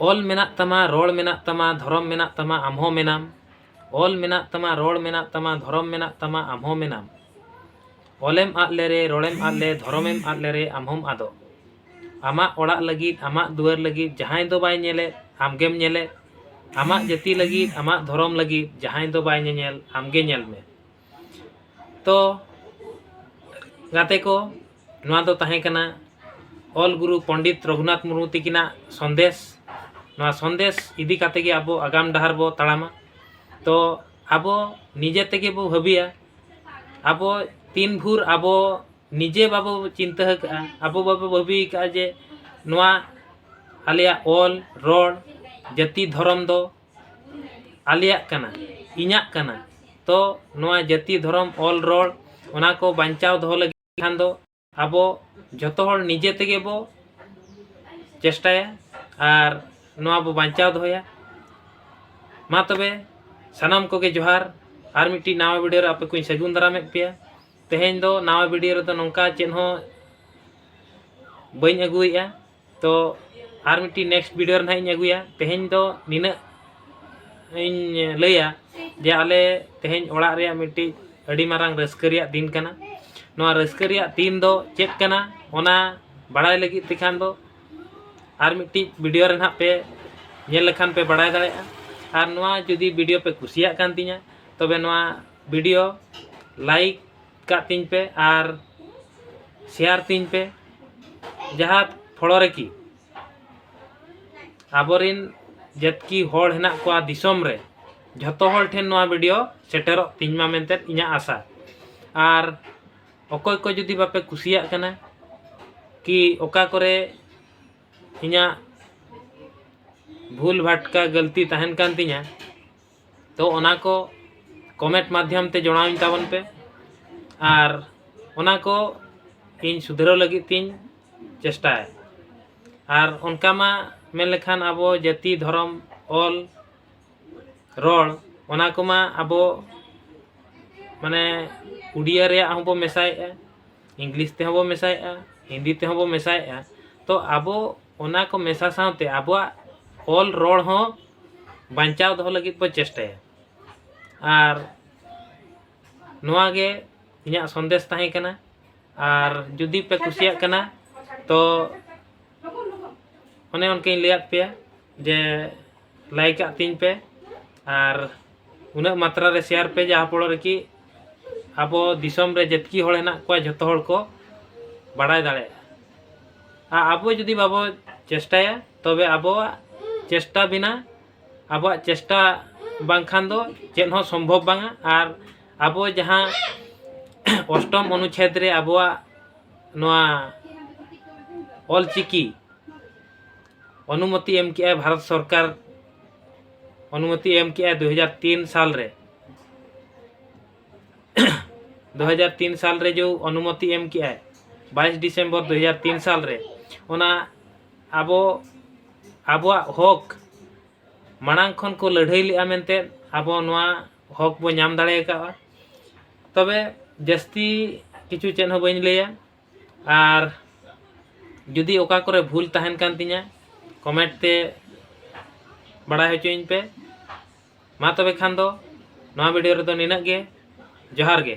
ᱚᱞ ᱢᱮᱱᱟᱜ ᱛᱟᱢᱟ ᱨᱚᱲ ᱢᱮᱱᱟᱜ ᱛᱟᱢᱟ ᱫᱷᱚᱨᱚᱢ ᱢᱮᱱᱟᱜ ᱛᱟᱢᱟ ᱟᱢ ᱦᱚᱸ ᱢᱮᱱᱟᱢ ᱚᱞ ᱢᱮᱱᱟᱜ ᱛᱟᱢᱟ ᱨᱚᱲ ᱢᱮᱱᱟᱜ ᱛᱟᱢᱟ ᱫᱷᱚᱨᱚᱢ ᱢᱮᱱᱟᱜ ᱛᱟᱢᱟ ᱟᱢ ᱦᱚᱸ ᱢᱮᱱᱟᱢ ᱚᱞᱮᱢ ᱟᱫ ᱞᱮᱨᱮ ᱨᱚᱲᱮᱢ ᱟᱫ ᱞᱮ ᱫᱷᱚᱨᱚᱢᱮᱢ ᱟᱫ ᱞᱮᱨᱮ ᱟᱢ ᱦᱚᱸᱢ ᱟᱫᱚᱜ ᱟᱢᱟᱜ ᱚᱲᱟᱜ ᱞᱟᱹᱜᱤᱫ ᱟᱢᱟᱜ ᱫᱩᱣᱟᱹᱨ ᱞᱟᱹᱜᱤᱫ ᱡᱟᱦᱟᱸᱭ ᱫᱚ ᱵᱟᱭ ᱧᱮᱞᱮᱫ ᱟᱢ ᱜᱮᱢ ᱧᱮᱞᱮᱫ ᱟᱢᱟᱜ ᱡᱟᱹᱛᱤ ᱞᱟᱹᱜᱤᱫ ᱟᱢᱟᱜ ᱫᱷᱚᱨᱚᱢ ᱞᱟᱹᱜᱤᱫ ᱡᱟᱦᱟᱸᱭ ᱫᱚ ᱵᱟᱭ ᱧᱮᱧᱮᱞ ᱟᱢ ᱜᱮ ᱧᱮᱞ ᱢᱮ ᱛᱚ ᱜᱟᱛᱮ ᱠᱚ ᱱᱚᱣᱟ ᱫᱚ ᱛᱟᱦᱮᱸ ᱠᱟᱱᱟ ᱚᱞ ᱜᱩᱨᱩ ᱯᱚᱱᱰᱤᱛ ᱨᱚᱜᱷᱩᱱᱟᱛᱷ ᱢᱩᱨᱢᱩ ᱛᱤᱠᱤᱱᱟᱜ ᱥᱚᱱᱫᱮᱥ ᱱᱚᱣᱟ ᱥᱚᱱᱫᱮᱥ ᱤᱫᱤ ᱠᱟᱛᱮ ᱜᱮ ᱟᱵᱚ ᱟᱜᱟᱢ ᱰᱟᱦᱟᱨ ᱵᱚ ᱛᱟᱲᱟᱢᱟ ᱛᱚ ᱟᱵᱚ ᱱᱤᱡᱮ ᱛᱮᱜᱮ ᱵᱚ ᱵᱷᱟᱹᱵᱤᱭᱟ ᱟᱵᱚ ᱛᱤᱱ ᱵᱷᱳᱨ ᱟᱵᱚ ᱱᱤᱡᱮ ᱵᱟᱵᱚ ᱪᱤᱱᱛᱟᱹ ᱟᱠᱟᱫᱼᱟ ᱟᱵᱚ ᱵᱟᱵᱚ ᱵᱷᱟᱹᱵᱤ ᱟᱠᱟᱫᱼᱟ ᱡᱮ ᱱᱚᱣᱟ ᱟᱞᱮᱭᱟᱜ ᱚᱞ ᱨᱚᱲ ᱡᱟᱹᱛᱤ ᱫᱷᱚᱨᱚᱢ ᱫᱚ ᱟᱞᱮᱭᱟᱜ ᱠᱟᱱᱟ ᱤᱧᱟᱹᱜ ᱠᱟᱱᱟ ᱛᱚ ᱱᱚᱣᱟ ᱡᱟᱹᱛᱤ ᱫᱷᱚᱨᱚᱢ ᱚᱞ ᱨᱚᱲ ᱚᱱᱟ ᱠᱚ ᱵᱟᱧᱪᱟᱣ ᱫᱚᱦᱚ ᱞᱟᱹᱜᱤᱫ ᱠᱷᱟᱱ ᱫᱚ ᱟᱵᱚ ᱡᱚᱛᱚ ᱦᱚᱲ ᱱᱤᱡᱮ ᱛᱮᱜᱮ ᱵᱚ ᱪᱮᱥᱴᱟᱭᱟ ᱟᱨ ᱱᱚᱣᱟ ᱵᱚ ᱵᱟᱧᱪᱟᱣ ᱫᱚᱦᱚᱭᱟ ᱢᱟ ᱛᱚᱵᱮ ᱥᱟᱱᱟᱢ ᱠᱚᱜᱮ ᱡᱚᱦᱟᱨ ᱟᱨ ᱢᱤᱫᱴᱤᱡ ᱱᱟᱣᱟ ᱵᱷᱤᱰᱤᱭᱳ ᱨᱮ ᱟᱯᱮ ᱠᱚᱧ ᱥᱟᱹᱜᱩᱱ ᱫᱟᱨᱟᱢᱮᱫ ᱯᱮᱭᱟ ᱛᱮᱦᱮᱧ ᱫᱚ ᱱᱟᱣᱟ ᱵᱷᱤᱰᱤᱭᱳ ᱨᱮᱫᱚ ᱱᱚᱝᱠᱟ ᱪᱮᱫ ᱦᱚᱸ ᱵᱟᱹᱧ ᱟᱹᱜᱩᱭᱮᱫᱼᱟ ᱛᱚ ᱟᱨ ᱢᱤᱫᱴᱤᱡ ᱱᱮᱠᱥᱴ ᱵᱷᱤᱰᱤᱭᱳ ᱨᱮ ᱱᱟᱦᱟᱜ ᱤᱧ ᱟᱹᱜᱩᱭᱟ ᱛᱮᱦᱮᱧ ᱫᱚ ᱱᱤᱱᱟᱹᱜ ᱤᱧ ᱞᱟᱹᱭᱟ ᱡᱮ ᱟᱞᱮ ᱛᱮᱦᱮᱧ ᱚᱲᱟᱜ ᱨᱮᱭᱟᱜ ᱢᱤᱫᱴᱤᱡ ᱟᱹᱰᱤ ᱢᱟᱨᱟᱝ ᱨᱟᱹᱥᱠᱟᱹ ᱨᱮᱭᱟᱜ ᱫᱤᱱ ᱠᱟᱱᱟ ᱱᱚᱣᱟ ᱨᱟᱹᱥᱠᱟᱹ ᱨᱮᱭᱟᱜ ᱫᱤᱱ ᱫᱚ ᱪᱮᱫ ᱠᱟᱱᱟ ᱚᱱᱟ ᱵᱟᱲᱟᱭ ᱞᱟᱹᱜᱤᱫ ᱛᱮᱠᱷᱟᱱ ᱫᱚ ᱟᱨ ᱢᱤᱫᱴᱤᱡ ᱵᱷᱤᱰᱤᱭᱳ ᱨᱮ ᱱᱟᱦᱟᱜ ᱯᱮ ᱧᱮᱞ ᱞᱮᱠᱷᱟᱱ ᱯᱮ ᱵᱟᱲᱟᱭ ᱫᱟᱲᱮᱭᱟᱜᱼᱟ ᱟᱨ ᱱᱚᱣᱟ ᱡᱩᱫᱤ ᱵᱷᱤᱰᱤᱭᱳ ᱯᱮ ᱠᱩᱥᱤᱭᱟᱜ ᱠᱟᱱ ᱛᱤᱧᱟ ᱛᱚᱵᱮ ᱱᱚᱣᱟ ᱵᱷᱤᱰᱤᱭᱳ ᱞᱟᱭᱤᱠ ᱠᱟᱜ ᱛᱤᱧ ᱯᱮ ᱟᱨ ᱥᱮᱭᱟᱨ ᱛᱤᱧ ᱯᱮ ᱡᱟᱦᱟᱸ ᱯᱷᱚᱲᱚ ᱨᱮᱠᱤ ᱟᱵᱚᱨᱤᱱ ᱡᱟᱹᱛᱠᱤ ᱦᱚᱲ ᱦᱮᱱᱟᱜ ᱠᱚᱣᱟ ᱫᱤᱥᱚᱢ ᱨᱮ ᱡᱷᱚᱛᱚ ᱦᱚᱲ ᱴᱷᱮᱱ ᱱᱚᱣᱟ ᱵᱷᱤᱰᱤᱭᱳ ᱥᱮᱴᱮᱨᱚᱜ ᱛᱤᱧ ᱢᱟ ᱢᱮᱱᱛᱮ ᱤᱧᱟᱹᱜ ᱟᱥᱟ ᱟᱨ ᱚᱠᱚᱭ ᱠᱚ ᱡᱩᱫᱤ ᱵᱟᱯᱮ ᱠᱩᱥᱤᱭᱟᱜ ᱠᱟᱱᱟ ᱠᱤ ᱚᱠᱟ ᱠᱚᱨᱮ ᱤᱧᱟᱹᱜ ᱵᱷᱩᱞ ᱵᱷᱟᱴᱠᱟ ᱜᱟᱹᱞᱛᱤ ᱛᱟᱦᱮᱱ ᱠᱟᱱ ᱛᱤᱧᱟᱹ ᱛᱚ ᱚᱱᱟ ᱠᱚ ᱠᱚᱢᱮᱱᱴ ᱢᱟᱫᱽᱫᱷᱚᱢ ᱛᱮ ᱡᱚᱲᱟᱣᱤᱧ ᱛᱟᱵᱚᱱ ᱯᱮ ᱟᱨ ᱚᱱᱟ ᱠᱚ ᱤᱧ ᱥᱩᱫᱷᱨᱟᱹᱣ ᱞᱟᱹᱜᱤᱫ ᱛᱤᱧ ᱪᱮᱥᱴᱟᱭᱟ ᱟᱨ ᱚᱱᱠᱟ ᱢᱟ ᱢᱮᱱ ᱞᱮᱠᱷᱟᱱ ᱟᱵᱚ ᱡᱟᱹᱛᱤ ᱫᱷᱚᱨᱚᱢ ᱚᱞ ᱨᱚᱲ ᱚᱱᱟ ᱠᱚᱢᱟ ᱟᱵᱚ ᱢᱟᱱᱮ ᱩᱰᱤᱭᱟ ᱨᱮᱭᱟᱜ ᱦᱚᱸᱵᱚ ᱢᱮᱥᱟᱭᱮᱫᱼᱟ ᱤᱝᱞᱤᱥ ᱛᱮᱦᱚᱸ ᱵᱚ ᱢᱮᱥᱟᱭᱮᱫᱼᱟ ᱦᱤᱱᱫᱤ ᱛᱮᱦᱚᱸ ᱵᱚ ᱢᱮᱥᱟᱭᱮᱫᱼᱟ ᱛᱚ ᱟᱵᱚ ᱚᱱᱟ ᱠᱚ ᱢᱮᱥᱟ ᱥᱟᱶᱛᱮ ᱟᱵᱚᱣᱟᱜ ᱚᱞ ᱨᱚᱲ ᱦᱚᱸ ᱵᱟᱧᱪᱟᱣ ᱫᱚᱦᱚ ᱞᱟᱹᱜᱤᱫ ᱵᱚ ᱪᱮᱥᱴᱟᱭᱟ ᱟᱨ ᱱᱚᱣᱟ ᱜᱮ ᱤᱧᱟᱹᱜ ᱥᱚᱱᱫᱮᱥ ᱛᱟᱦᱮᱸ ᱠᱟᱱᱟ ᱟᱨ ᱡᱩᱫᱤ ᱯᱮ ᱠᱩᱥᱤᱭᱟᱜ ᱠᱟᱱᱟ ᱛᱚ ᱚᱱᱮ ᱚᱱᱠᱟᱧ ᱞᱟᱹᱭᱟᱫ ᱯᱮᱭᱟ ᱡᱮ ᱞᱟᱭᱤᱠ ᱟᱜ ᱛᱤᱧ ᱯᱮ ᱟᱨ ᱩᱱᱟᱹᱜ ᱢᱟᱛᱨᱟ ᱨᱮ ᱥᱮᱭᱟᱨ ᱯᱮ ᱡᱟᱦᱟᱸ ᱯᱷᱚᱲᱚ ᱨᱮᱠᱤ ᱟᱵᱚ ᱫᱤᱥᱚᱢ ᱨᱮ ᱡᱮᱛᱠᱤ ᱦᱚᱲ ᱦᱮᱱᱟᱜ ᱠᱚᱣᱟ ᱡᱚᱛᱚ ᱦᱚᱲ ᱠᱚ ᱵᱟᱲᱟᱭ ᱫᱟᱲᱮᱭᱟᱜᱼᱟ ᱟᱨ ᱟᱵᱚ ᱡᱩᱫᱤ ᱵᱟᱵᱚ ᱪᱮᱥᱴᱟᱭᱟ ᱛᱚᱵᱮ ᱟᱵᱚᱣᱟᱜ ᱪᱮᱥᱴᱟ ᱵᱤᱱᱟ ᱟᱵᱚᱣᱟᱜ ᱪᱮᱥᱴᱟ ᱵᱟᱝᱠᱷᱟᱱ ᱫᱚ ᱪᱮᱫ ᱦᱚᱸ ᱥᱚᱢᱵᱷᱚᱵ ᱵᱟᱝᱟ ᱟᱨ ᱟᱵᱚ ᱡᱟᱦᱟᱸ ᱚᱥᱴᱚᱢ ᱚᱱᱩᱪᱷᱮᱫ ᱨᱮ ᱟᱵᱚᱣᱟᱜ ᱱᱚᱣᱟ ᱚᱞᱪᱤᱠᱤ ᱚᱱᱩᱢᱚᱛᱤ ᱮᱢ ᱠᱮᱜᱼᱟᱭ ᱵᱷᱟᱨᱚᱛ ᱥᱚᱨᱠᱟᱨ ᱚᱱᱩᱢᱚᱛᱤ ᱮᱢ ᱠᱮᱜᱼᱟᱭ ᱫᱩ ᱦᱟᱡᱟᱨ ᱛᱤᱱ ᱥᱟᱞ ᱨᱮ ᱫᱩ ᱦᱟᱡᱟᱨ ᱛᱤᱱ ᱥᱟᱞ ᱨᱮ ᱡᱮ ᱚᱱᱩᱢᱚᱛᱤ ᱮᱢ ᱠᱮᱜᱼᱟᱭ ᱵᱟᱭᱤᱥ ᱰᱤᱥᱮᱢᱵᱚᱨ ᱫᱩ ᱦᱟᱡᱟᱨ ᱛᱤᱱ ᱥᱟᱞ ᱨᱮ ᱚᱱᱟ ᱟᱵᱚ ᱟᱵᱚᱣᱟᱜ ᱦᱚᱠ ᱢᱟᱲᱟᱝ ᱠᱷᱚᱱ ᱠᱚ ᱞᱟᱹᱲᱦᱟᱹᱭ ᱞᱮᱜᱼᱟ ᱢᱮᱱᱛᱮ ᱟᱵᱚ ᱱᱚᱣᱟ ᱦᱚᱠ ᱵᱚ ᱧᱟᱢ ᱫᱟᱲᱮ ᱟᱠᱟᱫᱼᱟ ᱛᱚᱵᱮ ᱡᱟᱹᱥᱛᱤ ᱠᱤᱪᱷᱩ ᱪᱮᱫ ᱦᱚᱸ ᱵᱟᱹᱧ ᱞᱟᱹᱭᱟ ᱟᱨ ᱡᱩᱫᱤ ᱚᱠᱟ ᱠᱚᱨᱮ ᱵᱷᱩᱞ ᱛᱟᱦᱮᱱ ᱠᱟᱱ ᱛᱤᱧᱟ ᱠᱚᱢᱮᱱᱴ ᱛᱮ ᱵᱟᱲᱟᱭ ᱦᱚᱪᱚᱧ ᱯᱮ ᱢᱟ ᱛᱚᱵᱮ ᱠᱷᱟᱱ ᱫᱚ ᱱᱚᱣᱟ ᱵᱷᱤᱰᱤᱭᱳ ᱨᱮᱫᱚ ᱱᱤᱱᱟᱹᱜ ᱜᱮ ᱡᱚᱦᱟᱨ ᱜᱮ